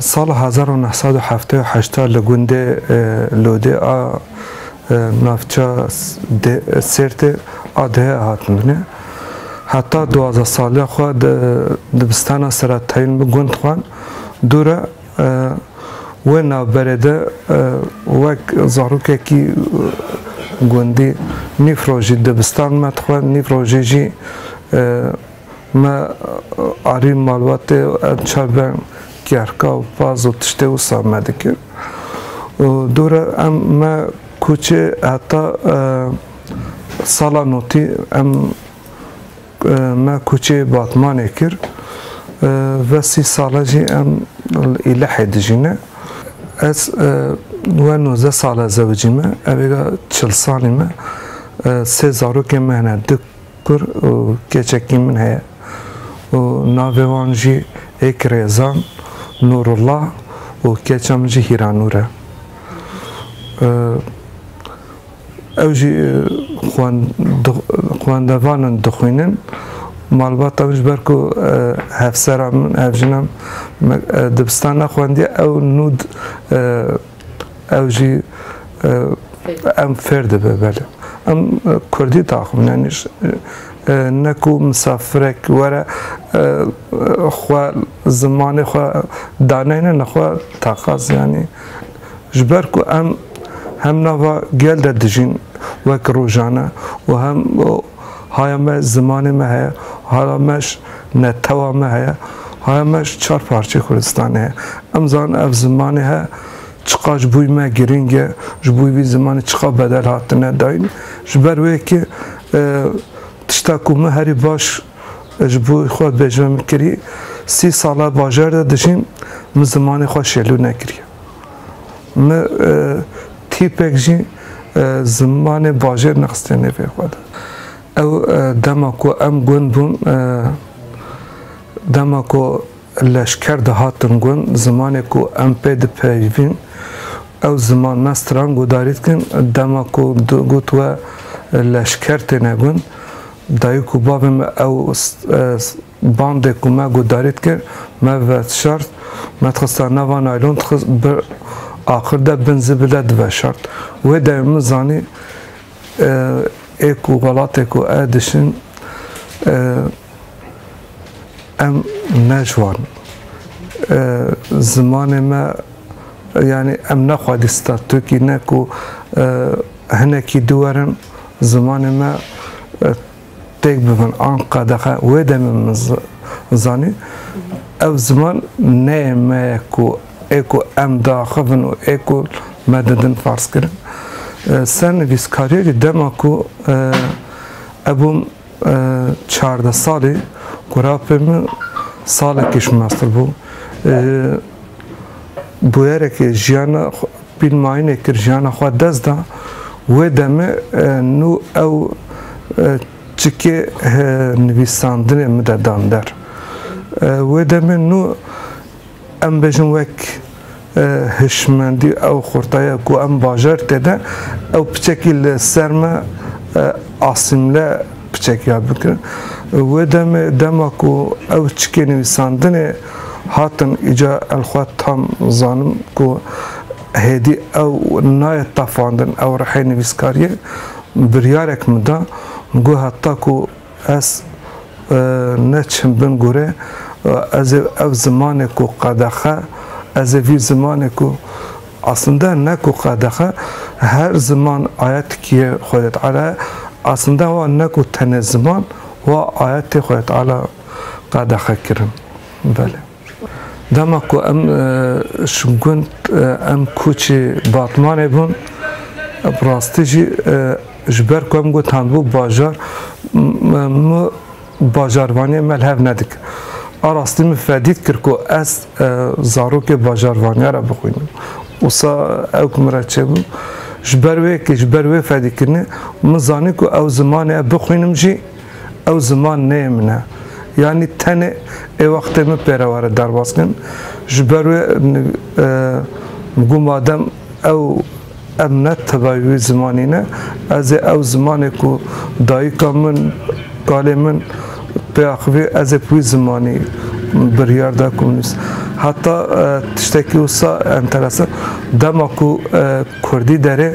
Sala hezar û neh sed û heftê û heşt de li gundê Lodê a navça Sêrtê a dihê hatin binê. Heta duwazdeh saliya xwe di dibistana Seretayîn bi gund xwend. Dû re Wê navberê de wek zarokekî gundî nîv rojî dibistan me dixwe, nîv rojî jî me arî malbatê û em çar be kerka û paz û tiştê wisa me dikir. Û dûre em me kûçê heta sala notî em Me koçê Batmanê kir. Ve sî sal e jî em li Îlehê dijîn e. Ez we nozdeh sal e zewicî me. Evêga çil salî me. Sê zarokên me hene du kur û keçekî min heye û navê wan jî êk Rêzan, Nûrullah û keça min jî Hîranûr e. Ew jî xwendevan in, dixwînin. Malbata min ji ber ku hevsera min, hevjina min dibistan nexwendiye ew nûd ew jî em fêr dibe belê. Em kurdî daxwin yanî ne ku misafirek were xwe zimanê xwe daneyne nexwe taqaz yanî Ji ber ku em hem nava gel de dijîn wek rojane û hem haya me zimanê me heye, haya me ji netewa me heye, haya me ji çar parçeyê Kurdistanê heye. Em zanin ev zimanê he çiqas ji bo me girîng e, ji bo vî zimanê çiqas bedel hatine dayîn. Ji ber wê yekê tişta ku min herî baş ji bo xwe bêjme min kirî, sî sal e bajar de dijîm, min zimanê xwe şêlû nekiriye. Min tîpek jî zimanê bajêr nexistiye nêvê xwe de. Ew dema ku em gund bûn, dema ku leşker de hatin gund, zimanê ku em pê dipeyivîn, ew ziman me stran guhdarî dikin, dema ku got we leşker têne gund, Dayik û bavê me ew bandê ku me guhdarî dikir me veşart, me dixista nava naylon dixist bi axir de bin zibil de diveşart. Wê demê min zanî ê ku welatê ku ez dişin em ne ji wan in. Zimanê me yanî em ne xwedî statûkî ne ku Hinekî di werin zimanê me têk bibin an qedexe wê demê min zanî ev ziman neyê me ye ku ê ku em diaxivin û ê ku me didin ferzkirin. Sernivîskariyekî dema ku hebûm Çardeh salî ku rapê min salekî ji min nastir bû. Ji bûyerekê jiyana pîl mayînê kir, jiyana xwe dest da. Wê demê nû ew çikê nivîsandinê min de dan der. Wê demê nû Em bêjin wek hişmendî ew xurtaya ku em bajar tê de ew piçekî li ser me asîmle piçek yad bikin. Wê demê dema ku ew çikê nivîsandinê hatin îca el xwe tam zanim ku hêdî ew nayê tafandin ew rihê nivîskariyê biryarek min da min got heta ku Ez ne çim bin gure ez ê ev zimanê ku qedexe ez ê vî zimanê ku aslinde ne ku qedexe her ziman ayetikiyê Xwedê Teala ye aslinde wa ne ku tenê ziman wa ayetê Xwedê Teala qedexe kirin belê. Dema ku em ji gund em kûçê Batmanê bûn, bi rastî jî ji ber ku em gotandbû bajar min bajarvaniyê me li hev nedike. A rastî min fedît kir ku ez zarokê bajarvaniya re bixwînim. Wisa ew ku min re çêbû ji ber wê yekê, ji ber wê fedîkirinê min zanî ku ew zimanê ev bixwînim jî, Ew ziman neyê min e. Yanî tenê ê wextê min pêre were derbas kirin. Ji ber wê got madem ew em ne tevayê wî zimanî ne, ez ê ew zimanê ku dayika min, kalê min pê axivî ez ê bi wî zimanî biryar da ku min nivîs. Heta tiştekî wisa enteresan, dema ku kurdî derê,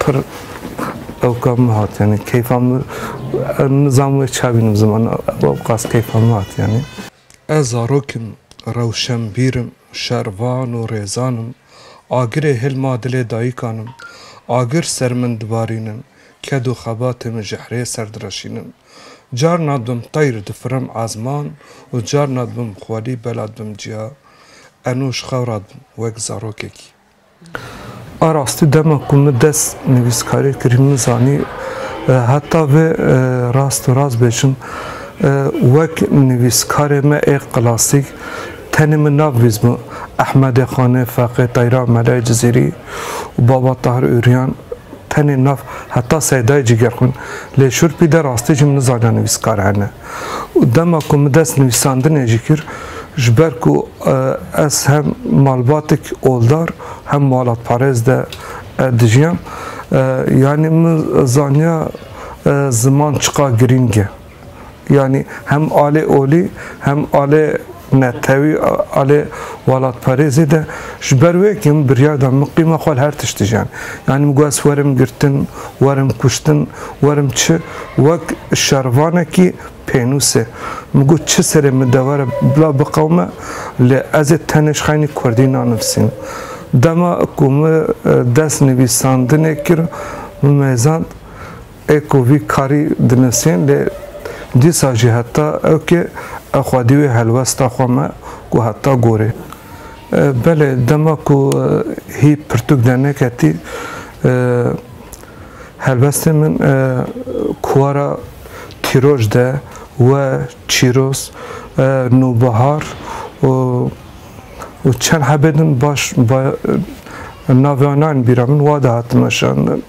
Pir ewka min hat yanî keyfa min nizam wê ça bînim ziman ewqas keyfa min hat yanî. Ez zarok im, rewşenbîr im, şervan û rêzan im. Agirê hil ma dilê dayîkan im. Agir ser min dibarînin, ked û xebatê min ji hirê ser direşînin. Carna dibim teyr difirim ezman û carna dibim xwelî bela dibim ciya. Enû ji xewra dibim wek zarokekî. A rastî dema ku min dest nivîskariyê kirî min zanî heta vê rast û rast bêjim wek nivîskarê me ê klasîk tenê min nav vîzbû Ehmedê Xanê, Feqê Teyra, Melayê Cizîrî û Baba Tahir Ûrîyan tenê nav heta Seydayê Cîgerxwîn lê şûrpî de rastî jî min nizaniya nivîskar hene. û dema ku min dest nivîsandinê jî kir ji ber ku ez hem malbatek oldar hem malatparêz de dijiyam yanî min zaniya ziman çiqa girîng e. Yanî hem alê olî hem alê Netewî a lê welatparêzê de ji ber wê ke min biryar da miqîma xwe li her tiştî jiyan. Yanî min got ez werim girtin, werim kuştin, werim çi wek şervanekî pênûs e. Min got çi serê min dewere bila biqewime lê ez ê tenê ji xeynî kurdî nanivîsînim. Dema ku min dest nivîsandinê kir min mêzand. ê ku vî karî dinisîn lê dîsa jî heta ewkê ew xwedî wê helwesta xwe me ku heta gorê. Belê dema ku hî pirtûk derneketî helwestên min kuwara Tîroj de we Çîroz, Nûbihar û. û çend hebê din baş navê wan nayên bîra min wa de hatin weşandin.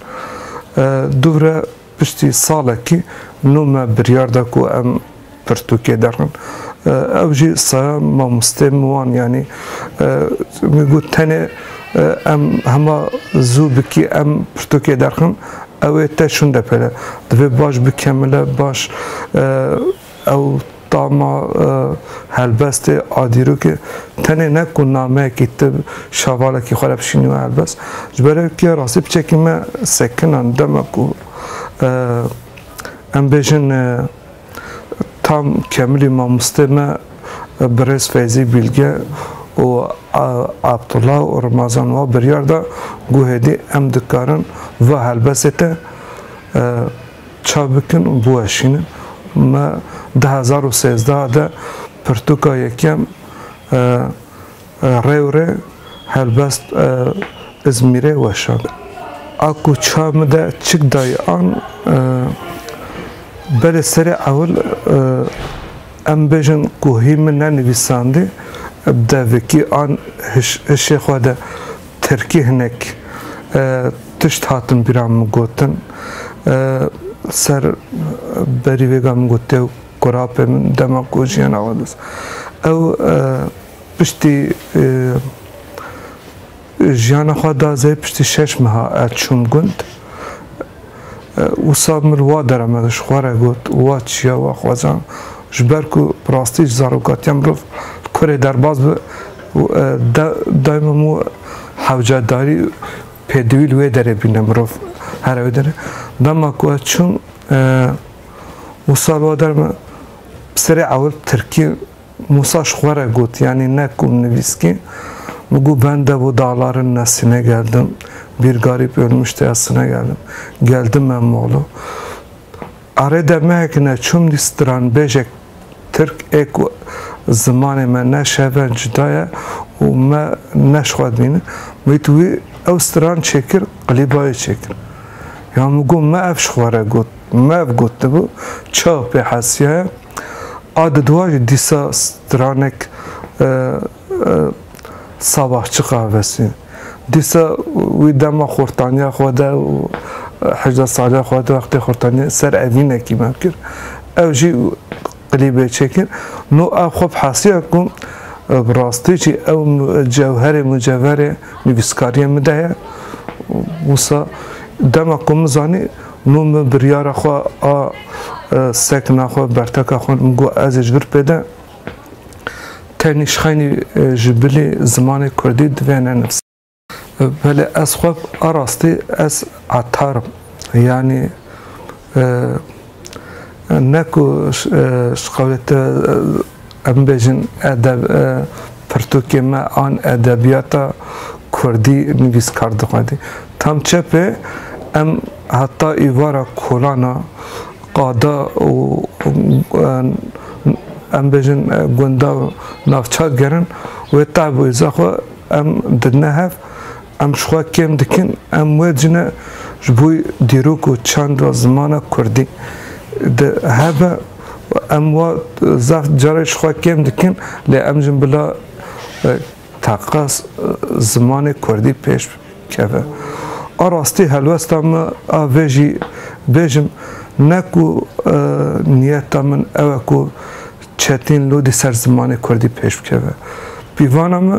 Dûvre piştî salekî nû me biryar da ku em pirtûkê derin. Ew jî saya mamosteyên min wan yanî min got tenê em hema zû bikî em pirtûkê derxin ew ê te şûnde pere. Divê baş bikemile baş Ew tama helbestê a dîrokê tenê ne ku nameyekî tib şavalekî xwe re bişîniwe helbest, ji ber ev ke rastî bi çekî me sekinan dema ku em bêjin tam kemilî mamostê me birêz Feyzî Bîlge û Abdullah û Rimazan wa biryar da ku hêdî em dikarin va helbestê te Ça bikin û biweşînin. Me du hezar û sêzdeh de pirtûka yekem Rewrê Helbest Îzmîrê weşand. A ku ça min de çik dayî an belê serê ewil em bêjin ku hî min nenivîsandî, devekî an hişê xwe de Tirkî hinek tişt hatin bîra min gotin. Ser berî vêga min got dêw kurapê min dema ku jiyana xwe dist. Ew piştî jiyana xwe da zê piştî şeş meha ez çûm gund. Wisa min wa deremek ji xwe re got û wa çiya we xwezan, ji ber ku bi rastî ji zarokatiya mirov li kurê derbas be û dayê min û hewcedarî û pêdivî li wê derê bîne mirov here wê derê. Dema ku ez çûm wisa li wa derem bi serê ewil tirkî Musa ji xwe re got, Yanî ne ku min nivîskî, min got ben dev û dağlarên Nesînê geldim, bir garîb ölmüş tê ez sine geldim, geldim me Muğlu. Arê demehek ne çûm dî stranbêjek Tirk ê ku zimanê me ne şeve cuda ye û me ne ji xwe dibîne, min got wî ew stran çêkir qilîba wê çêkir. Ya min got me ev ji xwe re got, me ev gotibû, çawa pê hesiyaya? A di dua jî dîsa stranek sabah çiqa vesî. Dîsa wî dema xortaniya xwe de û hejda saliya xwe de wextê xortaniye ser evînekî me kir. Ew jî klîbê çêkir. No ev xwe bi hesiya ku bi rastî jî ew cewherê mucevherê nivîskariyê min de ye. Wisa dema ku min zanî Min bi biryara xwe a sekna xwe, berteka xwe min got ez ê ji vir pêde tenê şxeynî ji bilê zimanê kurdî divê nenivîsim. Belê ez xwe a rastî ez etar im. Yanî ne ku şixawê te Em bibêjin edeb e pirtûkê me an edebiyata kurdî nivîskar dixwedî. Tam çepê em heta îvara kolana qada û em bêjin gunda û navçak gerin wê tevwêza xwe em didine hev. Em ji xwe kêm dikin, em wecî ne ji bo dîrok û çand ve zimana kurdî di hebe û em wa zaf carê ji xwe kêm dikin lê em jin bila taqa zimanê kurdî pêş keve. A rastî helwesta me a vê jî bêjim ne ku niyeta min ew e ku çetîn lûdî ser zimanê kurdî pêş bikeve. Pîvana me